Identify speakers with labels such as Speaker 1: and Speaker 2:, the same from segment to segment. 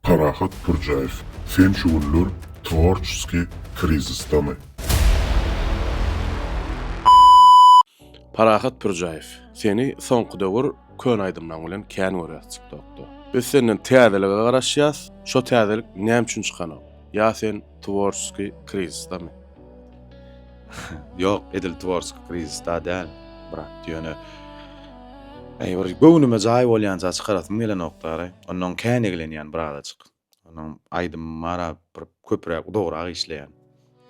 Speaker 1: Parahat Pürjäýew, sen şu günler tworçeskiý krizisdami?
Speaker 2: Parahat Pürjäýew, seni soňky döwür köne aýdymlaň bilen kän görýäs tiktokda. Biz senden täzelige garaşýas, şo täzelik näme üçin çykanok? Ýa sen Tworskiý krizisdami?
Speaker 3: Ýok, edil tworskiý krizisda däl, brat, ýöne Eý, bir göwnüme jaý bolýança çykarasym gelenokdary. Ondan kän eglenýän birazajyk. Onuň aýdym mara bir köpräk udagrak işleýän.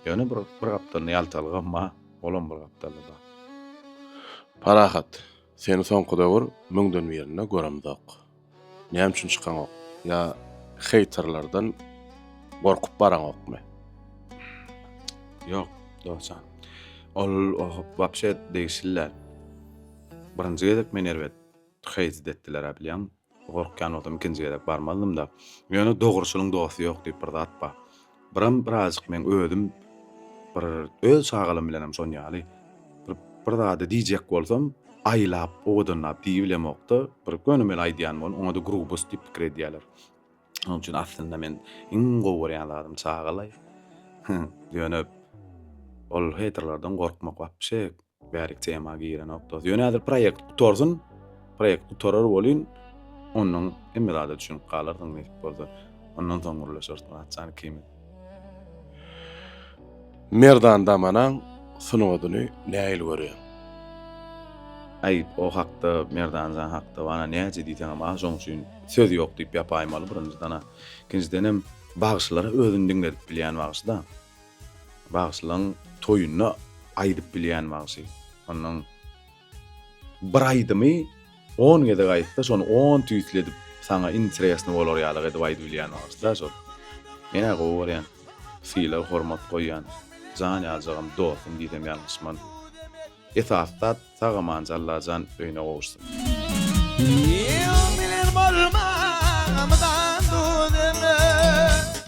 Speaker 3: Ýöne bir bir gapdalynda ýaltalygam bar, olam bir gapdalda bar.
Speaker 2: Parahat, seni soňky döwür müňden birinde göremzok. Näme üçin çykaňok? Ýa heýterlerden gorkup baraňokmy?
Speaker 3: Ýok, dostjan. Ol wapşe degişli däl. Birinji gezek meni erbet heýt etdiler-ä bilýäňmi? Gorkýan bolsam ikinji gezek barmazdym-da. Ýöne dogruçylyň dosty ýok diýip bir zat bar. Biram birazjyk meň özüm bir öz çagalarym bilenem şon ýaly bir bir zady diýjek bolsam aýlap owadanlap diýibilemokda bir gönümel aýdýan bolun oňada grubus diýip pikir edýäler. Şonuň üçin aslynda men iň gowy görýän zadym çagalaý. Ýöne ol heýterlerden gorkmak wapşe Bärik tema girenokdys. Ýöne häzir proýekt gutarsyn. Proýekt gutarar welin, ondan hemme zada düşünip galarsyň nesip bolsa. Ondan soň gürleşeris Myratjan ikimiz.
Speaker 2: Merdan Damanaň sungatyny nähili görýäň?
Speaker 3: Aý, o hakda, Merdanjan hakda bana näce diýseňem az, şoň üçin söz ýok diýip ýapaýmaly birinjiden-a. Ikinjidenem, bagşylara özüni diňledip bilýän bagşy-da. Bagşylaň toýunda aýdyp bilýän bagşy. Onnoň bir aýdymy on gezek aýtsa şony on tüýsli edip saňa interesny bolar ýalyk edip aýdy bilýän bagşyda şol. Menä gowy görýän. Sylag hormat goýýan. Jan ýaljagym dostum diýsem ýalňyşman. Esasy zat sag amanca Allajan öýüne gowuşsyn. Ýyl bilen bolmaz mydam duz ömre.